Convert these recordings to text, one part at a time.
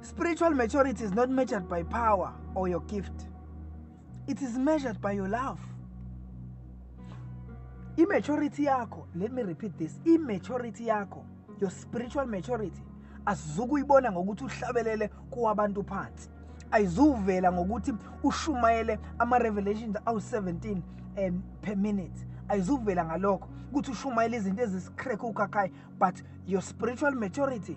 Spiritual maturity is not measured by power or your gift. It is measured by your love. Immaturity yakho, let me repeat this, immaturity yakho, your spiritual maturity asizukuyibona ngokuthi uhlabelele kuwabantu phansi. Ayizuvela ngokuthi ushumayele ama revelations awu 17 um, per minute. Ayizuvela ngalokho ukuthi ushumayele izinto ezisikhrekhe ukhakhayi but your spiritual maturity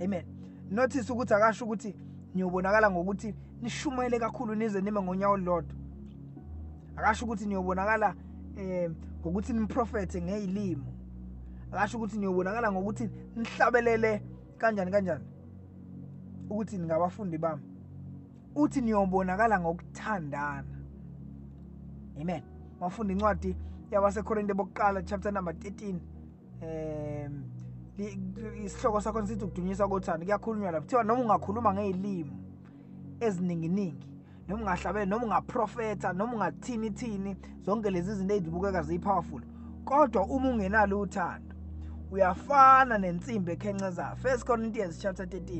amen notice ukuthi akasho ukuthi niyobonakala ngokuthi nishumayele kakhulu nize nime ngonyawo olulodwa akasho ukuthi niyobonakala um ngokuthi niprofethe ngey'limo akasho ukuthi niyobonakala ngokuthi nihlabelele kanjani kanjani ukuthi ningabafundi bami uthi niyobonakala ngokuthandana amen mafundi incwadi yabasekorinte bokuqala chapter number 13 um isihloko sakhona sithi ukudunyiswa kothando kuyakhulunywa lapho kuthiwa noma ungakhuluma ngey'limu ezininginingi noma ungahlabele noma ungaprofetha noma ungathini thini zonke lezi zinto ezibukeka ziyi-powerful kodwa uma ungenalo uthando uyafana nensimbi ekhencezayo first corinthians chapter 13